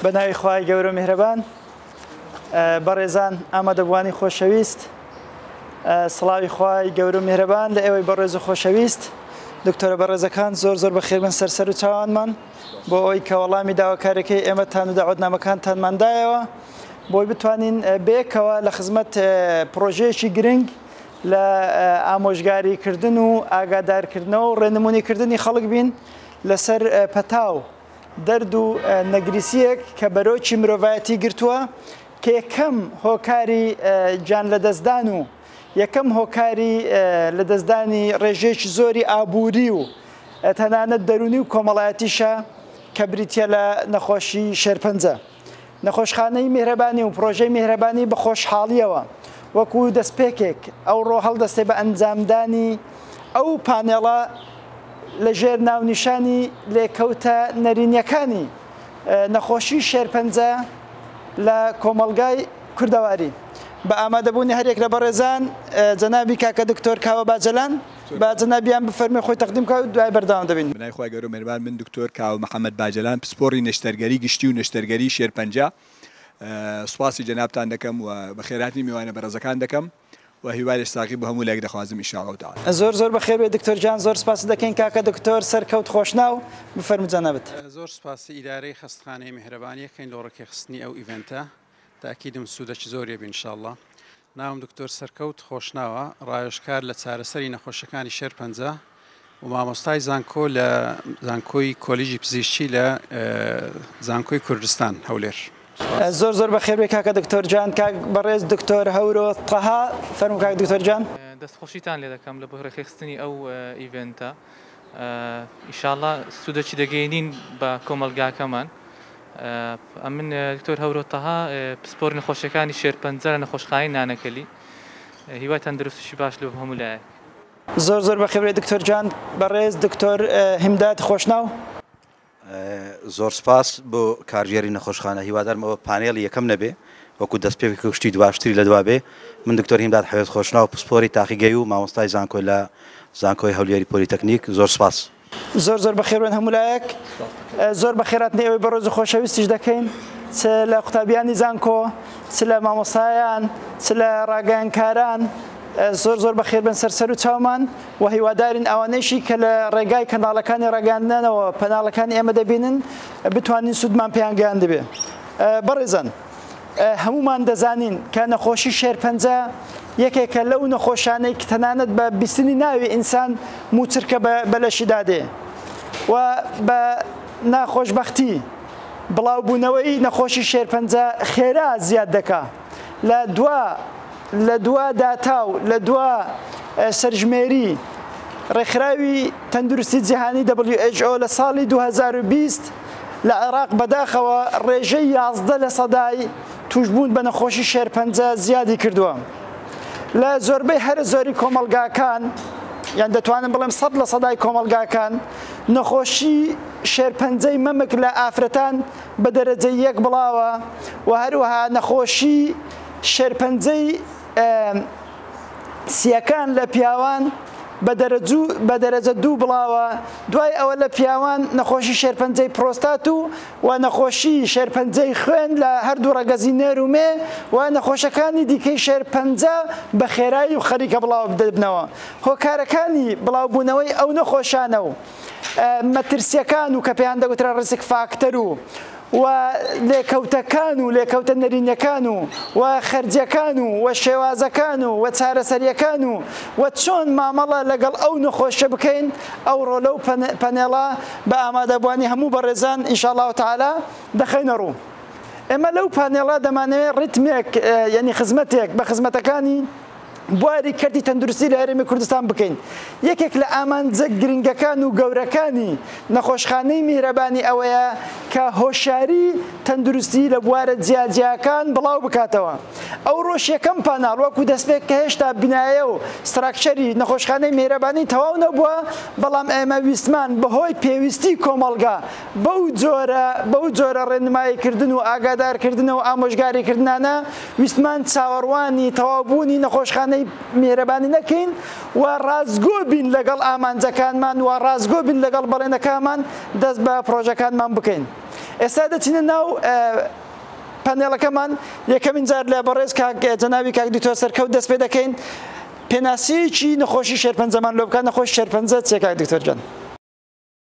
بە ناوی خوای گەورە میهرەبان بەڕێزان ئامادەبووانی خۆشەویست سڵاوی خوای گەورە میهرەبان لە ئێوەی بەڕێز و خۆشەویست دکتۆرە بەڕێزەکان زۆر زۆر بەخێربن سەرسەر و چاوانمان بۆ ئەوی کە وەڵامی داواکارەکەی ئێمەتان و داعودنامەکانتانماندایەوە بۆی بتوانین بێکەوە لە خزمەت پرۆژەیەکی گرنگ لە ئامۆژگاریکردن و ئاگادارکردنەوە و ڕێنمونیکردنی خەڵک بین لەسەر پەتا و دەرد و نەگریسییەک کە بەرۆکی مرۆڤایەتی گرتووە کە یەکەم هۆکاری گیان لەدەستدان و یەکەم هۆکاری لەدەستدانی ڕێژەیەکی زۆری ئابووری و تەنانەت دەرونی و کۆمەڵایەتیشە کە بریتە لە نەخۆشی شێرپەنجە نەخۆشخانەی میهرەبانی و پڕۆژەی میهرەبانی بە خۆشحاڵییەوە وەکو دەستپێکێک ئەوڕۆ هەڵدەستێ بە ئەنجامدانی ئەو پانێڵە لە ژێر ناونیشانی لێکەوتە نەرینیەکانی نەخۆشی شێرپەنجە لە کۆمەڵگای کوردەواری بە ئامادەبوونی هەریەک لە بەڕێزان جەنابی کاکە دکتۆر کاوە باجەلان. با جەنابیان بفەرموێ خۆی تەقدیم بکات و دوای بەردەوام دەبین. بەناوی خوای گەورە و مێهربان من دکتۆر کاوە محەمەد باجەلان پسپۆڕی نەشتەرگەری گشتی و نەشتەرگەری شێرپەنجە سوپاسی جەنابتان دەکەم و بەخێرهاتنی میوانە بەڕێزەکان دەکەم و هیوای لەش ساغی بۆ هەموو لایەک دەخوازم ان شاء اللە تعالی. زۆر زۆر بەخێر بێی دکتۆر گیان. زۆر سپاست دەکەین کاکە دکتۆر سەر کەوت خۆشناو. بفەرموو جەنابت. زۆر سپاسی ئیدارەی خەستخانەی میهرەبان یەکەین لۆڕێکخستنی ئەو ئیڤێنتە تاکیدم سودەکی زۆریەبی ان شاء اللە ناوم دکتۆر سەرکەوت خۆشناوە، ڕاوێژکار لە چارەسەری نەخۆشیەکانی شێرپەنجە و مامۆستای زانکۆ لە زانکۆی کۆلیژی پزیشکی لە زانکۆی کوردستان هەولێر. زۆر زۆر بەخێربێی کاکە دکتۆر جان کاک بەڕێز دکتۆر هەورۆ تەها فەرموو کاک دکتۆر جان. دەست خۆشیتان لێدەکەم لە بەهرەخێخستنی ئەو ئیڤێنتە. ئیشاڵا سودەکی دەگەینین بە کۆمەڵگاکەمان ئەمن دکتۆر هەورۆ تەها پسپۆر نەخۆشیەکانی شێرپەنجە لە نەخۆشخانەی نانەکەلی هیوای تەندروستیشی باش لۆ هەموو لایەک زۆر زۆر بەخێبرێ دکتۆر گیان بەڕێز دکتۆر هیمداد خۆشناو. زۆر سپاس بۆ کارگێڕی نەخۆشخانە هیوادارم ئەوە پانێڵی یەکەم نەبێ وەکو دەستپێکێک و شتی دواشتری لە دوا بێ من دکتۆر هیمداد حەوێز خۆشناو پسپۆری تاقیگەی و مامۆستای زانکۆی لە زانکۆی هەولێری پۆلیتەکنیک زۆر سپاس. زۆر زۆر بەخێربێن هەموو لایەک زۆر بەخێرهاتنی ئێوەی بەڕێز و خۆشەویستیش دەکەین چ لە قوتابیانی زانکۆ چ لە مامۆستایان چ لە ڕاگەیانکاران زۆر زۆر بەخێربێن سەر سەر و چاومان وە هیوادارین ئەوانەیشی کە لە ڕێگای کەناڵەکانی ڕاگەیاندنەوە پەناڵەکانی ئێمە دەبینن بتوانین سوودمان پێیان گەیاندبێ بەڕێزان هەمومان دەزانین کە نەخۆشی شێرپەنجە یەکێکە لەو نەخۆشانەی کە تەنانەت بە بیستنی ناوی ئینسان موچرکە بە لەشیدا دێ و بە ناخۆشببختی بڵاوبوونەوەی نەخۆشی شێرپەنجە خێرا زیاد دەکا لە دوا لە دوا داتا و لە دوا سەرژمێری ڕێکخراوی تەندروستی جیهانی WHO لە ساڵی 2020 لە عێراق بەداخەوە ڕێژەی 11 لە سەدای توشبوون بە نەخۆشی شێرپەنجە زیادی کردووە لە زۆربەی هەرە زۆری کۆمەلگاکان یان دەتوانم بڵێم سەد لە سەدای کۆمەلگاکان نەخۆشی شێرپەنجەی مەمک لە ئافرەتان بە دەرەجەی یەک بڵاوە و هەروەها نەخۆشی شێرپەنجەی سییەکان لە پیاوان بە دەرەجە دوو بڵاوە دوای ئەوە لە پیاوان نەخۆشی شێرپەنجەی پرۆستات و و نەخۆشی شێرپەنجەی خوێن لە هەردوو ڕەگەزی نێر و مێ و نەخۆشەکانی دیکەی شێرپەنجە بە خێرایی و خەریکە بڵاو دەبنەوە هۆکارەکانی بڵاوبوونەوەی ئەو نەخۆشانە و مەترسیەکان و کە پێیان دەگوترا ڕزک فاکتەر و و لێکەوتەکان و لێکەوتە نەرینەکان و و خەرجەکان و و شێوازەکان و و چارەسەریەکان و و چۆن مامەڵە لەگەڵ ئەو نەخۆشە بکەین ئەو ڕۆلە و پەنێڵە بە ئامادەبوانی هەموو بەڕێزان ئینشاءالله تعالی دەخەینە ڕوو ئێمە لەو پانێڵە دەمانەوێت ڕیتمێک یعنی خزمەتێک بە خزمەتەکانی بواری کەرتی تەندروستی لە هەرێمی کوردستان بکەین یەکێک لە ئامانجە گرنگەکان و گەورەکانی نەخۆشخانەی میهرەبانی ئەوەیە کە هۆشیاری تەندروستی لە بوارە جیاجیاکان بڵاو بکاتەوە ئەوڕۆش یەکەم پاناڵ وەکو دەستپێک کە هێشتا بنایە و ستراکچەری نەخۆشخانەی میهرەبانی تەواو نەبووە بەڵام ئێمە ویستمان بەهۆی پێویستی کۆمەڵگا بەو جۆرە بەو جۆرە ڕێنماییکردن و ئاگادارکردنە و ئامۆژگاریکردنانە ویستمان چاوەڕوانی تەواوبوونی نەخۆشخانەی میهرەبانی نەکەین و ڕاستگۆ بین لەگەڵ ئامانجەکانمان و ڕاستگۆ بین لەگەڵ بەڵێنەکانمان دەست بە پڕۆژەکانمان بکەین ئێستا دەچینە ناو پەنێڵەکەمان یەکەمین جار لە بەڕێز کاک جەناوی کاک دکتۆر سەرکەوت دەست پێ دەکەین پێناسەیەکی نەخۆشی شێرپەنجەمان لۆ بکات نەخۆش شێرپەنجە چیە کاک دکتۆر گیان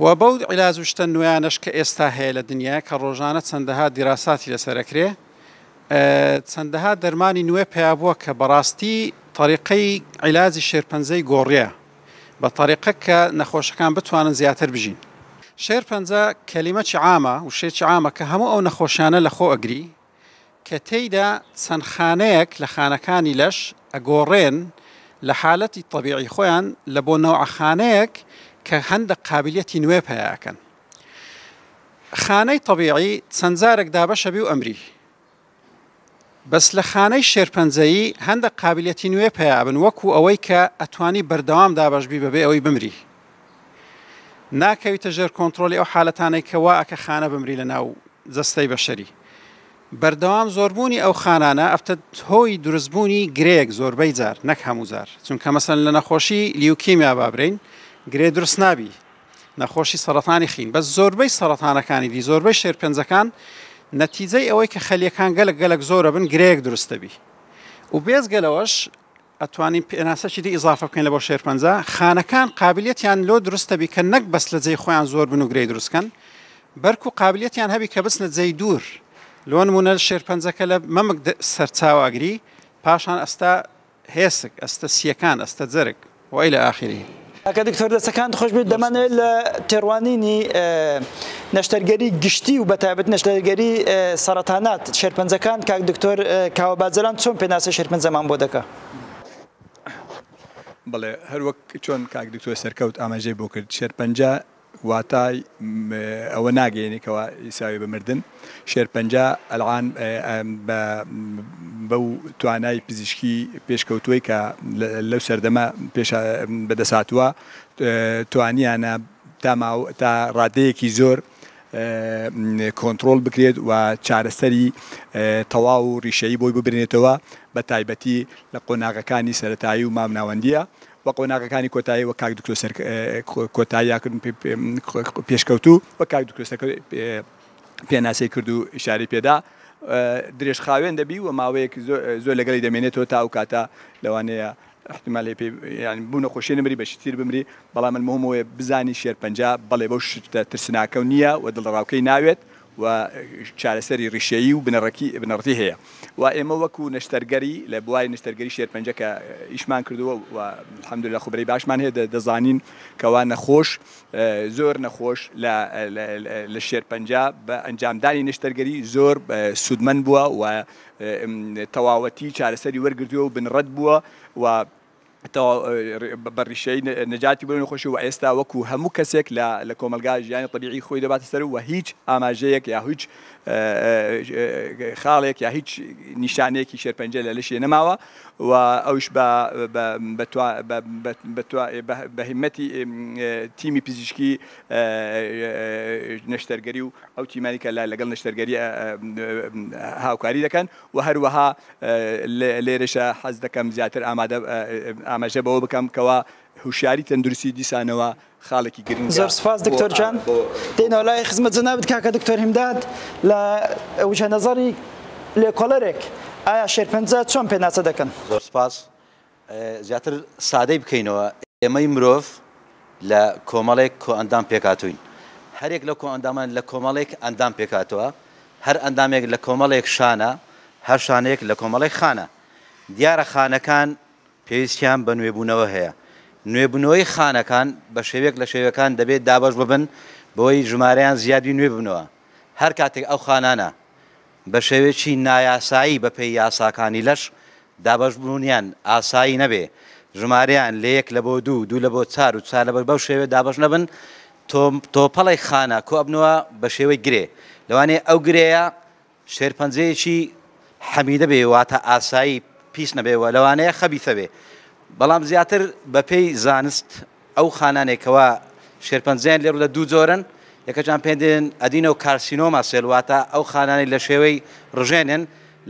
و بەو عیلاج و شتە نوێیانەش کە ئێستا هەیە لە دنیا کە ڕۆژانە چەندەها دیراساتی لەسەر ئەکرێ چەندەها دەرمانی نوێ پیا بووە کە بەڕاستی طریقەی عیلاجی شێرپەنجەی گۆڕیە بە طریقە کە نەخۆشەکان بتوانن زیاتر بژین شێرپەنجە کەلیمەکی عامە وشێکی عامە کە هەموو ئەو نەخۆشیانە لە خۆ ئەگری کە تێیدا چەند خانەیەک لە خانەکانی لەش ئەگۆڕێن لە حالەتی تەبیعی خۆیان لە بۆ نەوعە خانەیەک کە هەندەک قابلیەتی نوێ پەیا ئەکەن خانەی تەبیعی چەند جارەک دابەش ئەبی و ئەمری بەس لە خانەی شێرپەنجەیی هەندەک قابلیەتی نوێ پەیا ئەبن وەکو ئەوەی کە ئەتوانی بەردەوام دابەش بی بەبێ ئەوەی بمری ناکەویتە ژێر کۆنترۆلی ئەو حالەتانەی کە وا ئەکە خانە بمری لە ناو جەستەی بەشەری بەردەوام زۆربوونی ئەو خانانە ئەبتە هۆی دروستبوونی گرێیەک زۆربەی جار نەک هەموو جار چونکە مەسەن لە نەخۆشی لیوکیمیا بابرین گرێ دروست نابی نەخۆشی سەرەتانی خین بەس زۆربەی سەرەتانەکانی دی زۆربەی شێرپەنجەکان نەتیجەی ئەوەی کە خەلیەکان گەلک گەلک زۆرە بن گرێیەک دروستەبی و بێزگەلەوەش ئەتوانین پێناسەکی دی ئیزافە بکەین لە بۆ شێرپەنجە خانەکان قابلیتیان لۆ دروست دەبی کە نەک بەس لە جێی خۆیان زۆر بن و گرێی دروست کەن بەرکو قابلیتیان هەبی کە بچنە جێی دوور لۆ نمونە شێرپەنجەکە لە مەمک سەرچاو ئەگری پاشان ئەستە هێسک ئەستە سییەکان ئەستە جەرگ و الی اخره. کاکە دکتۆر دەستەکانت خۆش بێت دەمانەوێت لە تێڕوانینی نەشتەرگەری گشتی و بەتابەت نەشتەرگەری سەرەتانات شێرپەنجەکان کاک دکتۆر کاوە باجەران چۆن پێناسە شێرپەنجەمان بۆ دەکە بڵێ هەروەک چۆن کاک دکتۆر سەرکەوت ئاماژەی بۆ کرد شێرپەنجە واتای ئەوە ناگەیەنێ کەوا ئیساوێ بە مردن. شێرپەنجە ئەلعان بە بەو توانای پزیشکی پێشکەوتووەی کە لەو سەردەمە پێش بەدەست هاتووە توانیانە تا ماو تا ڕادەیەکی زۆر کۆنترۆل بکرێت و چارەسەری تەواو و ڕیشەیی بۆی ببرێنێتەوە بە تایبەتی لە قۆناغەکانی سەرەتایی و مامناوەندییە و قۆناغەکانی کۆتایی وەک کاک دکتۆر سەر کۆتایی یا کردن پێشکەوتوو وەک کاک دکتۆر سەر پێناسەی کرد و ئیشارەی پێدا درێژ خاوێن دەبی و ماوەیەک زۆر لەگەڵی دەمێنێتەوە تا ئەو کاتە لەوانەیە احتمال پێ یعنی بوو نەخۆشی نمری بەشی تیر بمری بەڵام المهم وێ بزانی شێرپەنجە بەڵێ بەو شتە ترسناکە و نییە و دڵەڕاوکەی ناوێت و چارەسەری ڕیشەیی و بنەڕەتی هەیە و ئێمە وەکو نەشتەرگەری لە بواری نەشتەرگەری شێرپەنجە کە ئیشمان کردووە و الحمدللە خوبرەی باشمان هەیە دەزانین کەوا نەخۆش زۆر نەخۆش لە شێرپەنجە بە ئەنجامدانی نەشتەرگەری زۆر سوودمەند بووە و تەواوەتی چارەسەری وەرگرتووە و بنڕەت بووە و تەواو بە ڕیشەی نەجاتی بۆ نەخۆشی و ئێستا وەکو هەموو کەسێک لە کۆمەڵگا ژیانی تەبیعی خۆی دەباتە سەر و هیچ ئاماژەیەک یا هیچ خاڵێک یا هیچ نیشانەیەکی شێرپەنجە لە لەشی نەماوە و ئەوش بە هیمەتی تیمی پزیشکی نەشتەرگەری و ئەو تیمانەی کە لەگەڵ نەشتەرگەری هاوکاری دەکەن وە هەروەها لێرەشە حەز دەکەم زیاتر ئامادە ئاماژە بەوە بکەم کەوا هوشیاری تەندروستی دیسانەوە خاڵێکی گرنگە زۆر سپاس دکتۆر جان دێنەوە لای خزمەت جەنابت کاکە دکتۆر هیمداد لە وجهە نەزەری لێکۆڵەرێک ئایا شێرپەنجە چۆن پێناسە دەکەن؟ زۆر سپاس زیاتر سادەی بکەینەوە، ئێمەی مرۆڤ لە کۆمەڵێک کۆئەندام پێکهاتووین. هەرێک لەو کۆئەندامانە لە کۆمەڵێک ئەندام پێکهاتووە. هەر ئەندامێک لە کۆمەڵێک شانە، هەر شانەیەک لە کۆمەڵێک خانە. دیارە خانەکان پێویستیان بە نوێبوونەوە هەیە. نوێبوونەوەی خانەکان بە شێوەیەک لە شێوەکان دەبێ دابەش ببن بەوەی ژمارەیان زیاد بی نوێ ببنەوە. هەر کاتێک ئەو خانانە بە شێوەیەکی نایاسایی بە پێی یاساکانی لەش دابەشبوونیان ئاسایی نەبێ، ژمارەیان لە یەک لە بۆ دوو، دوو لە بۆ چار و چار لە بۆ بەو شێوەیە دابەش نەبن، تۆ تۆپەڵێک خانە کۆ ئەبنەوە بە شێوەی گرێ، لەوانەیە ئەو گرێیە شێرپەنجەیەکی حەمیدە بێ واتە ئاسایی پیس نەبێ و لەوانەیە خەبیثە بێ، بەڵام زیاتر بە پێی زانست ئەو خانانەی کەوا شێرپەنجەیان لێ ڕوودە دوو جۆرن، یەکەکیان پێیان دەێن ئەدینۆکارسینۆما سێل واتە ئەو خانانەی لە شێوەی ڕژێنن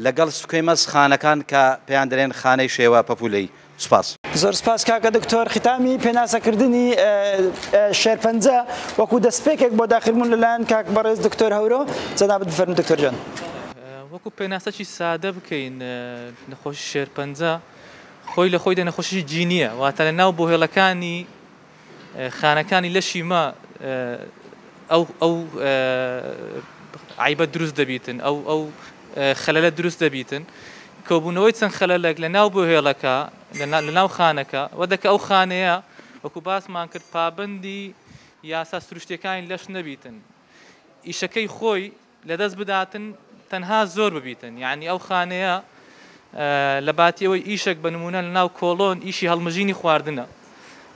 لەگەڵ سکوێمەس خانەکان کە پێیان دەێن خانەی شێوە پەپوولەیی. سوپاس. زۆر سوپاس کاکە دکتۆر ختامی پێناسەکردنی شێرپەنجە وەکو دەستپێکێک بۆ داخربوون لەلایەن کاک بەڕێز دکتۆر هەورۆ جەنابت بفەرموون دکتۆر جان. وەکو پێناسەکی سادە بکەین نەخۆشی شێرپەنجە خۆی لە خۆیدا نەخۆشیی جینییە، واتە لە ناو بۆهێڵەکانی خانەکانی لەشی مە ئەو ئەو عەیبە دروست دەبیتن، ئەو ئەو خەلەلە دروست دەبیتن. کۆبوونەوەی چەند خەلەلەک لە ناو بۆهێڵەکە، لە لە ناو خانەکە، وە دەکە ئەو خانەیە وەکوو باسمان کرد پابەندی یاسا سروشتییەکانی لەش نەبیتن، ئیشەکەی خۆی لەدەست بداتن تەنها زۆر ببیتن یانی ئەو خانەیە لەباتی ئەوەی ئیشەک بە نمونە لەناو کۆڵۆن ئیشی هەڵمژینی خواردنە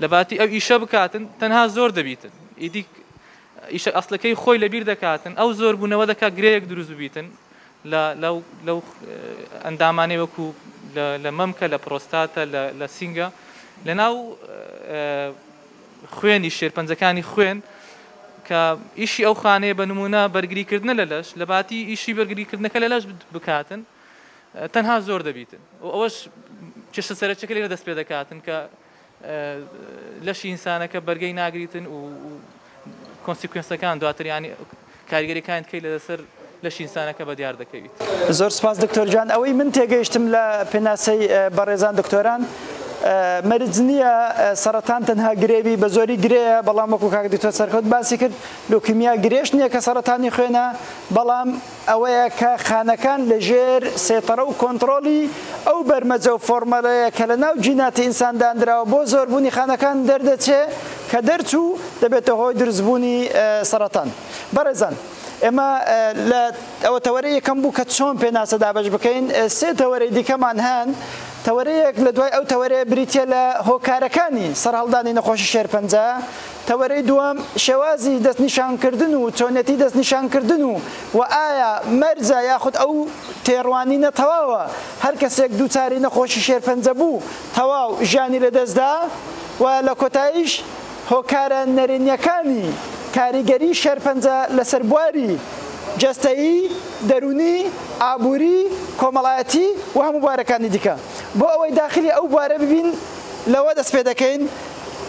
لەباتی ئەو ئیشە بکاتن تەنها زۆر دەبیتن ئیدی ئیشە ئەسلەکەی خۆی لەبیر دەکاتن ئەو زۆر بوونەوە دەکات گرەیەک دروست ببیتن لەو ئەندامانەی وەکو لە مەمکە لە پرۆستاتە لە سینگە لەناو خوێنی شێرپەنجەکانی خوێن کە ئیشی ئەو خانەیە بە نمونە بەرگریکردنە لە لەش لە باتی ئیشی بەرگریکردنەکە لە لەش بکاتن تەنها زۆر دەبیتن و ئەوەش کێشە سەرچەکە لێرە دەست پێ دەکاتن کە لەشی ئینسانەکە بەرگەی ناگریتن و کۆنسیکوێنسەکان دواتریانی کاریگەری کانی تکەی لە سەر لەشی ئینسانەکە بە دیار دەکەویت. زۆر سوپاس دکتۆر گیان ئەوەی من تێگەیشتم لە پێناسەی بەڕێزان دکتۆران مەرج نییە سەڕەتان تەنها گرێوی بە زۆری گرێیە بەڵام وەکو کاک دکتۆر سەرکەوت باسی کرد لوکیمیا گرێش نییە کە سەڕەتانی خوێنە بەڵام ئەوەیە کە خانەکان لە ژێر سەیتەڕە و کۆنتڕۆڵی ئەو بەرمەجە و فۆڕمەلەیە کە لە ناو جیناتی ئینسان دانراوە بۆ زۆربوونی خانەکان دەردەچێ کە دەرچوو دەبێتە هۆی دروست بوونی سەرەتان بەڕێزان ئێمە لە ئەوە تەوەرە یەکەم بوو کە چۆن پێناسە دابش بکەین سێ تەوەرەی دیکەمان هەن تەوەرەیەک لە دوای ئەو تەوەرەیە بریتە لە هۆکارەکانی سەرهەڵدانی نەخۆشی شێرپەنجە تەوەرەی دووەم شێوازی دەستنیشانکردن و چۆنێتی دەستنیشانکردن و و ئایا مەرجە یاخود ئەو تێڕوانینە تەواوە هەر کەسێک دووچاری نەخۆشی شێرپەنجە بوو تەواو ژیانی لەدەستدا و لە کۆتاییش هۆکارە نەرێنییەکانی کاریگەری شێرپەنجە لەسەر بواری جەستەیی، دەروونی، ئابووری، کۆمەڵایەتی و هەموو بوارەکانی دیکە. بۆ ئەوەی داخلی ئەو بوارە ببین لەوە دەست پێ دەکەین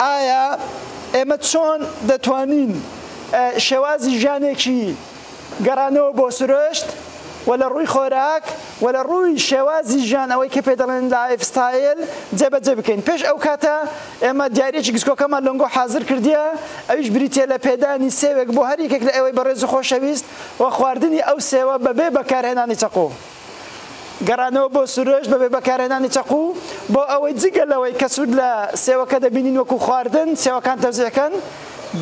ئایا ئێمە چۆن دەتوانین شێوازی ژیانێکی گەڕانەوە بۆ سروشت و لە ڕووی خۆراک و لە ڕووی شێوازی ژیان ئەوەی کە پێی دەڵێن لایف ستایل جێبەجێ بکەین پێش ئەو کاتە ئێمە دیاریەکی گسکۆکەمان لۆنگۆ حازر کردیە ئەویش بریتیە لە پێدانی سێوێک بۆ هەر یەکێک لە ئێوەی بەڕێز و خۆشەویست و خواردنی ئەو سێوە بەبێ بەکارهێنانی چەقۆ. گەڕانەوە بۆ سروشت بەبێ بەکارهێنانی چەقو بۆ ئەوەی جگە لەوەی کە سود لە سێوەکە دەبینین وەکو خواردن سێوەکان تەوزیعکەن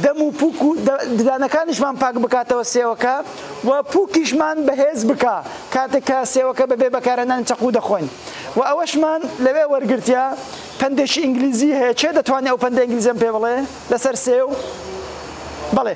دەم و پوک و ددانەکانیشمان پاک بکاتەوە سێوەکە و پوکیشمان بەهێز بکا کاتێک کە سێوەکە بەبێ بەکارهێنانی چەقو دەخۆین و ئەوەشمان لەوێ وەرگرتە پەندێکی ئینگلیزی هەیە کێ دەتوانێ ئەو پەندە ئینگلیزیەم پێ بڵێ لەسەر سێو بەڵێ.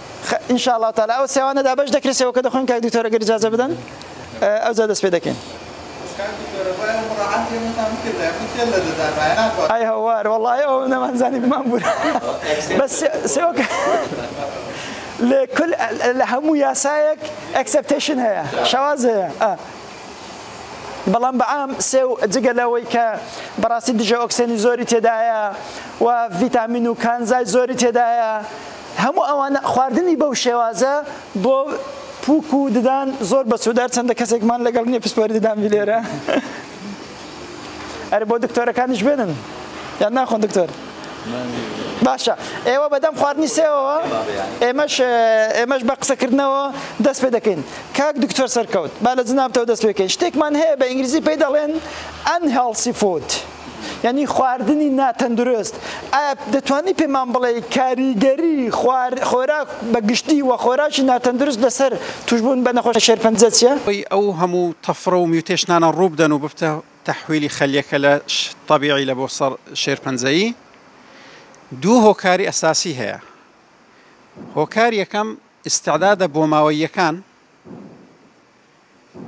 خ ان شاء الله تعالی او سیوانە دا بەش دەکرێت سێوەکە دەخۆین کاک دکتۆر ئەگەر اجازە بدەن او زاد دەست پێ دەکەین ئای هەوار وەڵای ئەو نەمانزانی بمان بوون بەس سێوەکە لە کل لە هەموو یاسایەک ئەکسپتشن هەیە شواز هەیە بەڵام بەعام سێو جگە لەوەی کە بەڕاستی دژە ئۆکسێنی زۆری تێدایە و ڤیتامین و کانزای زۆری تێدایە هەموو ئەوانە خواردنی بەو شێوازە بۆ پوک و ددان زۆر بەسوودە هەرچەندە کەسێکمان لەگەڵ نییە پسپۆری ددان بیلێرە ئەرێ بۆ دکتۆرەکانیش بێنن یان ناخۆن دکتۆر باشە ئێوە بەدەم خواردنی سێەوە ئێمەش ئێمەش بە قسەکردنەوە دەست پێ دەکەین کاک دکتۆر سەرکەوت با لە جنابتەوە دەست پێکەین شتێکمان هەیە بە ئینگلیزی پێی دەڵێن ئەن هێڵسی فود. یعنی خواردنی ناتەندروست ئایا دەتوانی پێمان بڵێ کاریگەری خۆراک بە گشتی و خۆراکی ناتەندروست لەسەر توشبوون بە نەخۆشی شێرپەنجە چیە؟ ئەو هەموو تەفرە و میوتێشنانە ڕووبدەن و ببتە تەحویلی خەلیەکە لە تەبیعی لە بۆ سەر شێرپەنجەیی دوو هۆکاری ئەساسی هەیە هۆکار یەکەم ئستعدادە بۆماوەییەکان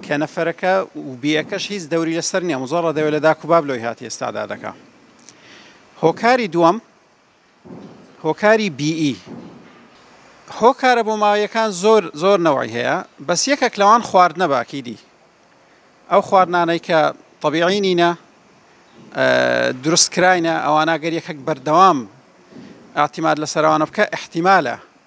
کە نەفەرەکە و بیەکەش هیچ دەوری لەسەر نیە مزۆڕە دەوێت لە داک و باب لۆی هاتی ئێستادا دەکا هۆکاری دووەم هۆکاری بیئی هۆکارە بۆ ماویەکان زۆر زۆر نەوەی هەیە بەس یەکێک لەوان خواردنە باکی دی ئەو خواردنانەی کە طبیعی نینە دروست کراینە ئەوانە گەر یەکەک بەردەوام ئاعتیماد لەسەروانە بکە احتیمالە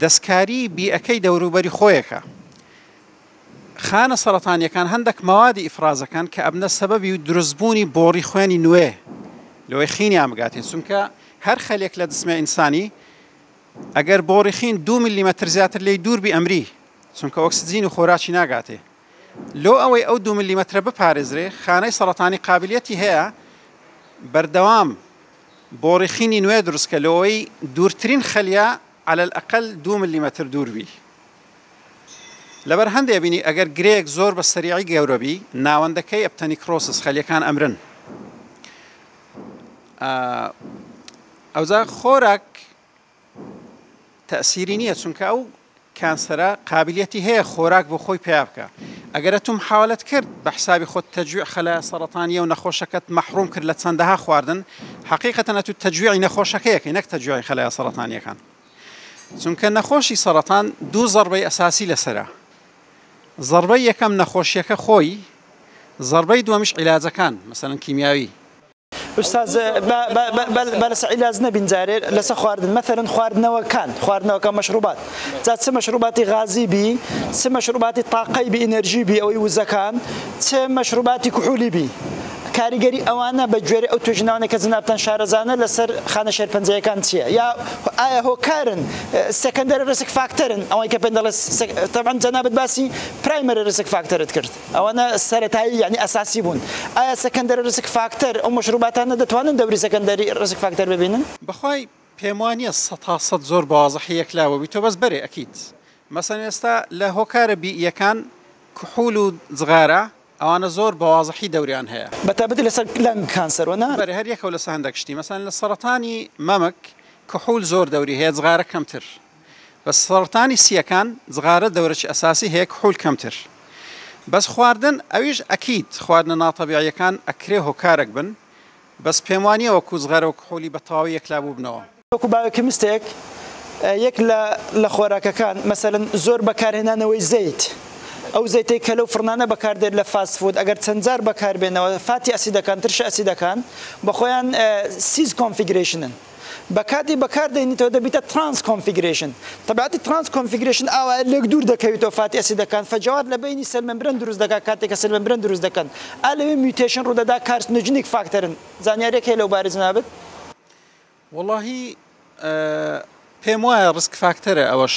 دەستکاری بیئەکەی دەوروبەری خۆیەکە. خانە سەرەتانیەکان هەندەک مەوادی ئیفرازەکەن کە ئەبنە سەبەبی و دروست بوونی بۆڕی خوێنی نوێ لەوەی خینیان بگاتێ چونکە هەر خەلێک لە جسمێ ئینسانی ئەگەر بۆڕی خین دوو ملی مەتر زیاتر لێی دوور بی ئەمری چونکە ئۆکسجین و خۆراکی ناگاتێ. لۆ ئەوەی ئەو دوو ملیمەترە بپارێزرێ خانەی سەڕەتانی قابلیەتی هەیە بەردەوام بۆ ڕیخینی نوێ دروستکە لۆەوەی دوورترین خەلیە عەلە الئەقەل دوو ملیمەتر دوور بی لەبەر هەندێ بینی ئەگەر گرێیەک زۆر بە سەریعی گەورەبی ناوەندەکەی ئەپتەنیکڕۆسس خەلیەکان ئەمرن ئەوجا خۆراک تەئسیری نیە چونکە ئەو کانسەرە قابلیەتی هەیە خۆراک بۆ خۆی پەیا بکا ئەگەرە تو محاولەت کرد بە حسابی خۆت تەجویع خەلایە سەرەتانیە و نەخۆشەکەت مەحروم کرد لە چەندەها خواردن حەقیقەتەن ئەتو تەجویعی نەخۆشەکە یەکەی نەک تەجویعی خەلایە سەرەتانیەکان چونکە نەخۆشی سەرەتان دو زەڕبەی ئەساسی لەسەرە زەڕبەی یەکەم نەخۆشیەکە خۆی زەڕبەی دوەمیش عیلاجەکان مەسەلەن کیمیاوی. استاذ بلس علاج نبین جارێ لەسە خواردن مەثلن خواردنەوەکان خواردنەوەکە مەشروبات جا چ مەشروباتی غازی بی چ مەشروباتی تاقەی بی ئینەرژی بی ئەوەی وزەکان چ مەشروباتی کوحولی بی کاریگەری ئەوانە بە گوێری ئەو توێژناوانە کە جنابتان شارەزانە لەسەر خانە شێرپەنجەیەکان چییە یا ئایا هۆکارن سەکەندەر ڕسک فاکتەرن ئەوەی کە پێ دەڵێت تەبەن جەنابەت باسی پرایمەری ڕسک فاکتەرت کرد. ئەوانە سەرەتایی یانی ئەساسی بوون. ئایا سەکەندەری ڕیسک فاکتەر، ئەو مەشروباتانە دەتوانن دەوری سەکەندەری ڕیسک فاکتەر ببینن؟ بەخوای پێموانیە سەتا سەد زۆر بەوازحی یەکلاوە بیتۆ بەس بەرێ ئەکید مەسەن ئێستا لە هۆکارە بیئیەکان کحول و جغارە ئەوانە زۆر بەوازحی دەوریان هەیە. بەتابەتی لەسەر لەنگ کانسەر و نا. بەرێ هەر یەکەو لەسە هەندەک شتی مەسەن لە سەڕەتانی مەمک کحول زۆر دەوری هەیە جغارە کەمتر بە سەرەتانی سیەکان جغارە دەورەکی ئەساسی هەیە کحول کەمتر بەس خواردن ئەویش ئەکید خواردنە ناتەبیعیەکان ئەکرێ هۆکارەک بن بەس پێم وانیە وەکو جغارە و کحولی بە تەواوی یەکلا بوبنەوە. وەکو بایۆکیمستێک یەک لە لە خۆراکەکان مەسەلەن زۆر بەکارهێنانەوەی زەیت ئەو زەیتەی کە لەو فڕنانە بەکاردێت لە فاست فود ئەگەر چەند جار بەکاربێنەوە فاتی ئەسیدەکان ترشە ئەسیدەکان بەخۆیان سیس کۆنفیگرەیشنن بە کاتی بەکار دەینیتەوە دەبیتە ترانس کۆنفیگرەیشن تەبعەتی ترانس کۆنفیگرەیشن ئاوایە لێک دوور دەکەویتەوە فاتی ئەسیدەکان فەجەوات لە بەینی سێل ممبرەن دروست دەکات کاتێک کە سێل ممبرەن دروست دەکەن ئا لەوێ میوتەیشن ڕوو دەدا کارسنۆجینیک فاکتەرن زانیاریەک هەیە لەو بارە جەنابت؟ وەڵاهی پێم وایە ڕیسک فاکتەرە ئەوەش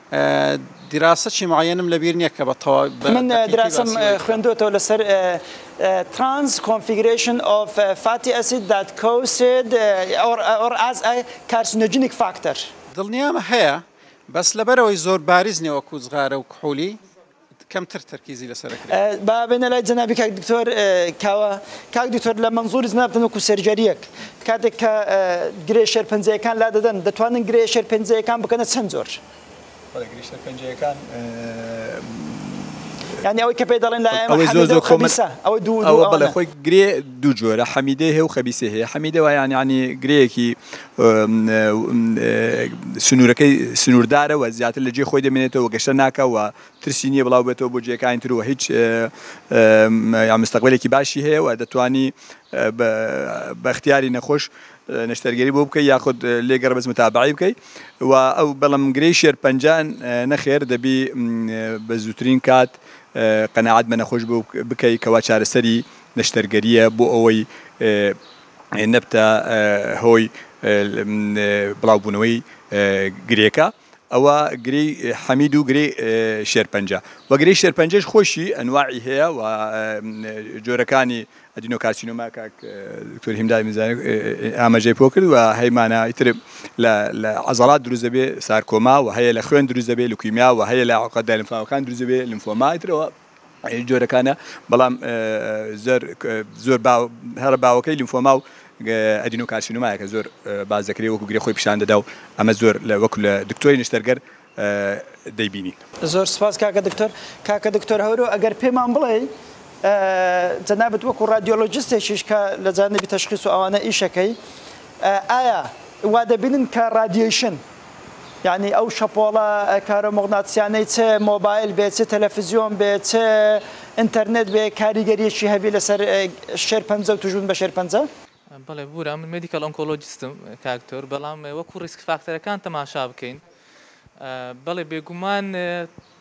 دراسەکی معەیەنم لەبیر نیە کە بە تەواوی باسی بکەم. من دراسەم خوێندۆتەوە لەسەر Trans Configuration of Fatty Acid that Caused or as a Carcinogenic Factor. دڵنیام هەیە بەس لەبەرئەوەی زۆر باریز نیە وەکو جغارە و کحولی کەمتر تەرکیزی لەسەر ئەکرێ. با بێنە لای جەنابی کاک دکتۆر کاوە. کاک دکتۆر لە مەنزوری جەنابتان وەکو سێرجەریەک کاتێک کە گرێ شێرپەنجەیەکان لادەدەن دەتوانن گرێ شێرپەنجەیەکان بکەنە چەند جۆر؟ بەڵێ گرێ شێرپەنجەیەکان. یانی ئەوەی کە پێی دەڵێن لە ئێمە حەمیدە و خەبیسە ئەوە دوو ئەوانە. ئەوە بەڵێ خۆی گرێ دوو جۆرە حەمیدەی هەیە و خەبیسەی هەیە. حەمیدە وایان یانی گرێیەکی سنوورەکەی سنووردارە و زیاتر لە جێی خۆی دەمێنێتەوە و گەشتە ناکا و ترسی نییە بڵاو بێتەوە بۆ جێیەکانی تر و هیچ مستەقبەلێکی باشی هەیە و دەتوانی بە ئیختیاری نەخۆش نەشتەرگەری بۆ بکەی یاخود لێ گەڕێ بەس متابەعەی بکەی و ئەو بەڵام گرێی شێرپەنجە نەخێر دەبی بە زووترین کات قەناعەت بە نەخۆش بکەی کەوا چارەسەری نەشتەرگەرییە بۆ ئەوەی نەبتە هۆی بڵاوبوونەوەی گرێکە، ئەوە گرێی حەمید و گرێی شێرپەنجە و گرێی شێرپەنجەش خۆیشی ئەنواعی هەیە و جۆرەکانی ئەدینۆکارسینۆما کاک دکتۆر هیمداد میرزایی ئاماژەی پۆ کرد و هەی مانا ئیتر لە عەزەڵات دروست دەبێ سارکۆما و هەیە لە خوێن دروست دەبێ لوکیمیا و هەیە لە عەقدە لەمفاوەکان دروست دەبێ لمفۆما ئیتر ئەوە جۆرەکانە بەڵام زۆر هەرە باوەکەی لیمفۆما و ئەدینۆکارسینۆمایە کە زۆر باز دەکرێت وەکو گرێ خۆی پیشان دەدا و ئەمە زۆر لە وەکو لە دکتۆری نشتەرگەر دەیبینین زۆر سپاس کاکە دکتۆر کاکە دکتۆر هەورۆ ئەگەر پێمان بڵێ جەنابەت وەکو ڕادیۆلۆجستێکیش کە لە جانبی تەشخیص و ئەوانە ئیشەکەی ئایا وا دەبینن کە ڕادیۆیشن یانی ئەو شەپۆڵە کارۆموغناتسیانەی چ مۆبایل بێ چ تەلەفزیۆن بێ چ ئینتەرنێت بێ کاریگەریەکی هەبی لەسەر شێرپەنجە و توشبون بە شێرپەنجە؟ بەڵێ بورا من مێدیکەڵ ئۆنکۆلۆجستم کاک دکتۆر بەڵام وەکو ڕیسک فاکتەرەکان تەماشا بکەین بەڵێ بێگومان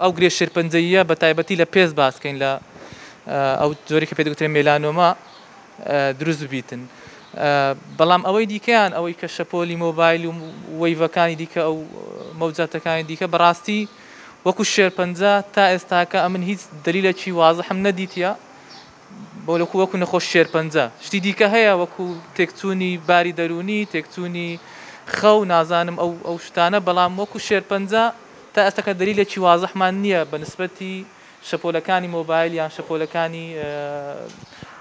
ئەو گرێ شێرپەنجەییە بە تایبەتی لە پێست باس بکەین لە ئەو جۆرەی کە پێی دەگوترێ مێلانۆما دروست ببیتن بەڵام ئەوەی دیکەیان ئەوەی کە شەپۆلی مۆبایل و وەیڤەکانی دیکە ئەو مەوجاتەکانی دیکە بەڕاستی وەکو شێرپەنجە تا ئێستاکە ئەمن هیچ دلیلەکی وازحم نەدیتە بۆلکو وەکو نەخۆش شێرپەنجە شتی دیکە هەیە وەکو تێکچوونی باری دەروونی تێکچوونی خەو نازانم ئەو ئەو شتانە بەڵام وەکو شێرپەنجە تا ئێستاکە دەلیلێکی وازحمان نییە بە نسبەتی شەپۆلەکانی مۆبایل یان شەپۆلەکانی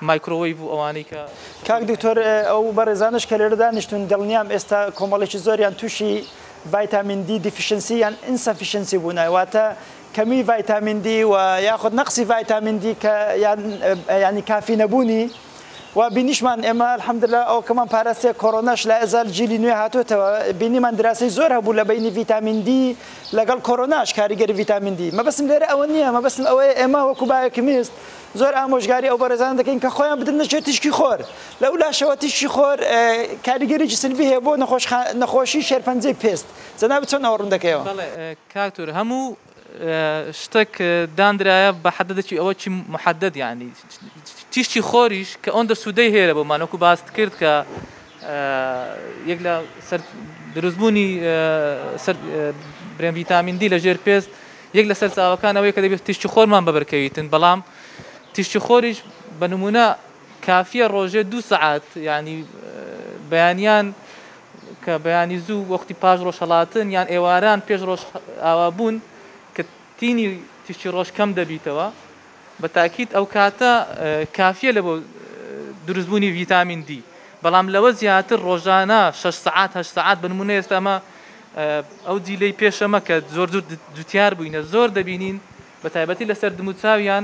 مایکرۆوەیڤ و ئەوانەی کە کاک دکتۆر ئەو بەڕێزانەش کە لێرە دانیشتون دڵنیام ئێستا کۆمەڵێکی زۆریان تووشی ڤایتامین دی دیفیشنسی یان ئینسەفیشنسی بوونە واتە کەمی ڤایتامین دی و یاخود نەقسی ڤایتامین دی کە یان یانی کافی نەبوونی و بینیشمان ئێمە الحمدللە ئەوکەمان پاراستە کۆرۆناش لە ئەزال جیلی نوێ هاتوتەوە بینیمان دراسی زۆر هەبوو لە بینی ڤیتامین دی لەگەڵ کۆرۆناش کاریگەری ڤیتامین دی مەبەستم لێرە ئەوە نییە مەبەستم ئەوەیە ئێمە وەکو بایەکمیست زۆر ئامۆژگاری ئەو بەڕێزان دەکەین کە خۆیان بدن نەچێت تیشکی خۆر لە ئولاشەوە تیشکی خۆر کاریگەریی سلبی هەیە بۆ نەخۆشی شێرپەنجەی پێست جەنابت چۆن ئەوە ڕوون دەکەیەوە؟ کاک تور هەموو شتەک داندرایە بە حەدەدەکی ئەوە چی محەدەد یانی تیشتی خۆریش کە ئەوەندە سوودەی هەیە بۆمان وەکو باست کرد کە یەک لە سەر دروستبوونی برێن ڤیتامین دی لە ژێر پێست یەک لە سەرچاوەکان ئەوەیە کە دەبێت تیشتی خۆرمان بەبرکەویتن بەڵام تیشتی خۆریش بە نمونە کافیە ڕۆژێ دوو سعات ینی بەیانیان کە بەیانی زوو وەختی پاش ڕۆژهەڵاتن یان ئێواران پێش ڕۆژ ئاوا بوون کە تینی تیشکی ڕۆژ کەم دەبیتەوە بە تاکید ئەو کاتە کافیە لە بۆ دروست بوونی ڤیتامین دی بەڵام لەوە زیاتر ڕۆژانە 6 سعات هە سعات بنمونە ئێستا ئەمە ئەو جیلەی پێشەمە کە زۆر زۆر جوتیار بووینە زۆر دەبینین بە تایبەتی لەسەر دموچاویان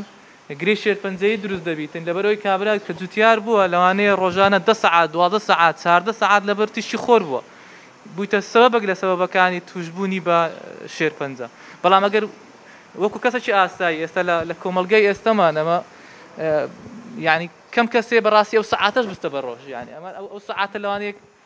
گرێی شێرپەنجەیی دروست دەبیتن لەبەرئەوەی کابرا کە جوتیار بووە لەوانەیە ڕۆژانە دە سەعات دوازدە سەعات چاردە سەعات لەبەر تیشکی خۆر بووە بویتە سەبەبەک لە سەبەبەکانی توشبوونی بە شێرپەنجە بەڵام ئەگەر وەکو کەسەکی ئاسایی ئێستا لە لە کۆمەلگای ئێستەمان ئەمە یعنی کەم کەسێ بەڕاستی ئەو سەعاتەش بستە بە ڕۆژ یعنی ئەمە ئەو سەعاتە لەوانەیە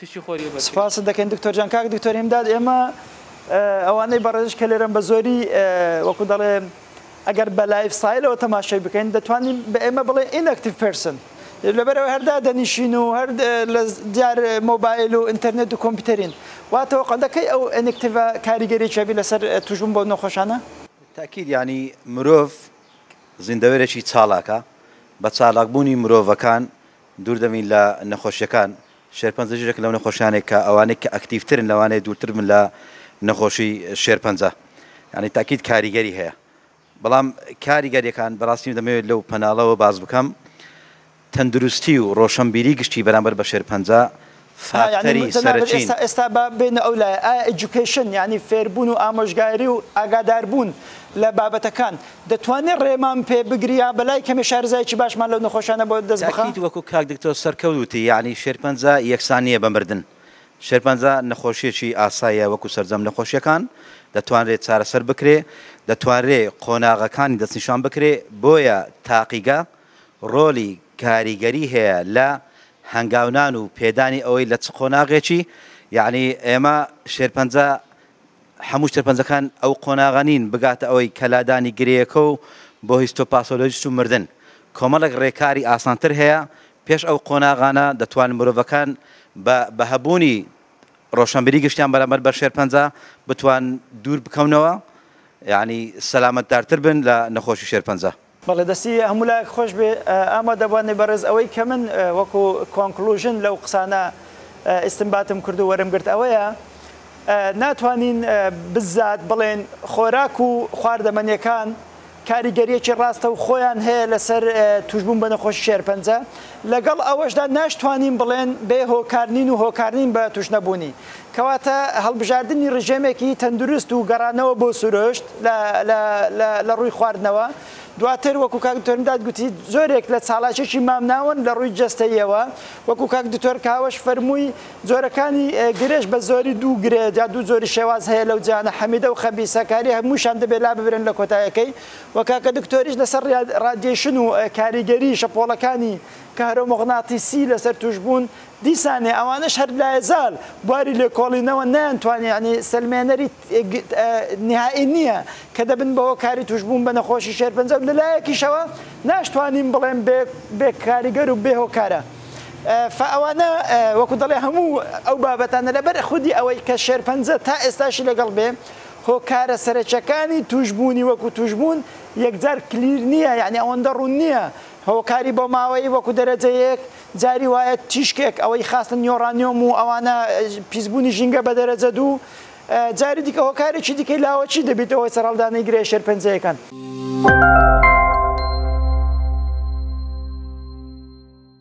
تشی خۆری وبەرکەی. سپاست دەکەین دکتۆر جان. کاک دکتۆر هیمداد ئێمە ئەوانەی بەڕێزش کە لێرەن بە زۆری وەکو دەڵێن ئەگەر بە لایف ستایلەوە تەماشای بکەین دەتوانین بە ئێمە بڵێ ئینەکتیڤ پێرسن لەبەر ئەوەی هەر دادەنیشین و هەر لە دیار مۆبایل و ئینتەرنێت و کۆمپیوتەرین وا تەوەقع دەکەی ئەو ئینەکتیڤە کاریگەریی هەبی لەسەر تووشبوون بەو نەخۆشانە؟ بالتاکید یانی مرۆڤ زیندەوەرێکی چالاکە بە چالاکبوونی مرۆڤەکان دوور دەبین لە نەخۆشیەکان، شێرپەنجە ژیرێکە لەو نەخۆشیانەی کە ئەوانەی کە ئەکتیڤترن لەوانەیە دوورتر بن لە نەخۆشی شێرپەنجە یانی تاکید کاریگەری هەیە بەڵام کاریگەریەکان بەڕاستی دەمەوێت لەو پەناڵەوە باز بکەم تەندروستی و ڕۆشنبیری گشتی بەرامبەر بە شێرپەنجە فاکتەری سەرەکین. جەنابت ئێستا با بێینە ئەو لایە، ئایا ئێجوکەیشن یانی فێربوون و ئامۆژگاری و ئاگاداربوون لە بابەتەکان دەتوانێ ڕێمان پێ بگری یا بەلای کەمێ شارەزایەکی باشمان لەو نەخۆشانە بۆ دەست بخا؟ تاکید، وەکو کاک دکتۆر سەرکەوت وتی یانی شێرپەنجە یەکسان نییە بە مردن، شێرپەنجە نەخۆشییەکی ئاساییە وەکو سەرجەم نەخۆشییەکان، دەتوانرێ چارەسەر بکرێ، دەتوانرێ قۆناغەکانی دەستنیشان بکرێ، بۆیە تاقیگە، ڕۆلی کاریگەری هەیە لە هەنگاونان و پێدانی ئەوەی لە چ قۆناغێکی یەعنی ئێمە شێرپەنجە هەموو شێرپەنجەکان ئەو قۆناغە نین بگاتە ئەوەی کە لادانی گرێیەکە و بۆ هیستۆپاسۆلۆجیست و مردن کۆمەڵێک ڕێکاری ئاسانتر هەیە پێش ئەو قۆناغانە دەتوان مرۆڤەکان بە بە هەبوونی ڕۆشنبیری گشتیان بەرامبەر بە شێرپەنجە بتوان دوور بکەونەوە یەعنی سەلامەتدارتر بن لە نەخۆشی شێرپەنجە. بەڵێ دەستی هەموو لایەک خۆش بێ ئامادە بوانی بەڕێز ئەوەی کە من وەکو کۆنکڵوژن لەو قسانە ئیستمباتم کردو وەرم گرت ئەوەیە ناتوانین بزات بڵێن خۆراک و خواردەمەنیەکان کاریگەریەکی ڕاستە و خۆیان هەیە لەسەر توشبوون بە نەخۆشی شێرپەنجە لەگەڵ ئەوەشدا ناشتوانین بڵێن بێ هۆکارنین و هۆکارنین بە توش نەبوونی کەواتە هەڵبژاردنی ڕژێمێکی تەندروست و گەڕانەوە بۆ سروشت لە ڕووی خواردنەوە، دواتر وەکو کاک دکتۆر مداد گوتی جۆرێک لە چاڵاکێکی مامناوەند لە ڕووی جەستەییەوە، وەکو کاک دکتۆر کاوەش فەرمووی جۆرەکانی گرێش بە زۆری دوو گرێ یا دوو جۆری شێواز هەیە لەو جیهانە حەمیدە و خەبیسە کە هەریە هەمووشیان دەبێ لاببرێن لە کۆتایەکەی و کاکە دکتۆریش لەسەر ڕادیەیشن و کاریگەری شەپۆڵەکانی کەهرۆموغناتیسی لەسەر تووشبوون دیسانێ ئەوانەش هەر لایەزال بواری لێکۆڵینەوە نەیانتوانی یانی سەلمێنەری نیهائی نییە کە دەبن بە هۆکاری توشبوون بە نەخۆشی شێرپەنجە و لەلایەکیشەوە ناشتوانین بڵێن بێ بێ کاریگەر و بێ هۆکارە فە ئەوانە وەکو دەڵێ هەموو ئەو بابەتانە لەبەر خودی ئەوەی کە شێرپەنجە تا ئێستاشی لەگەڵ بێ هۆکارە سەرەکیەکانی توشبوونی وەکو توشبوون یەکجار کلیر نییە یانی ئەوەندە ڕوون نییە هۆکاری بۆماوەیی وەکو دەرەجە یەک جاری وایە تیشکێک ئەوەی خاستن یۆرانیۆم و ئەوانە پیسبوونی ژینگە بە دەرەجە دوو، جاری دیکە هۆکارێکی دیکەی لاوەکی دەبیتە هۆی سەرهەڵدانی گرێ شێرپەنجەیەکان.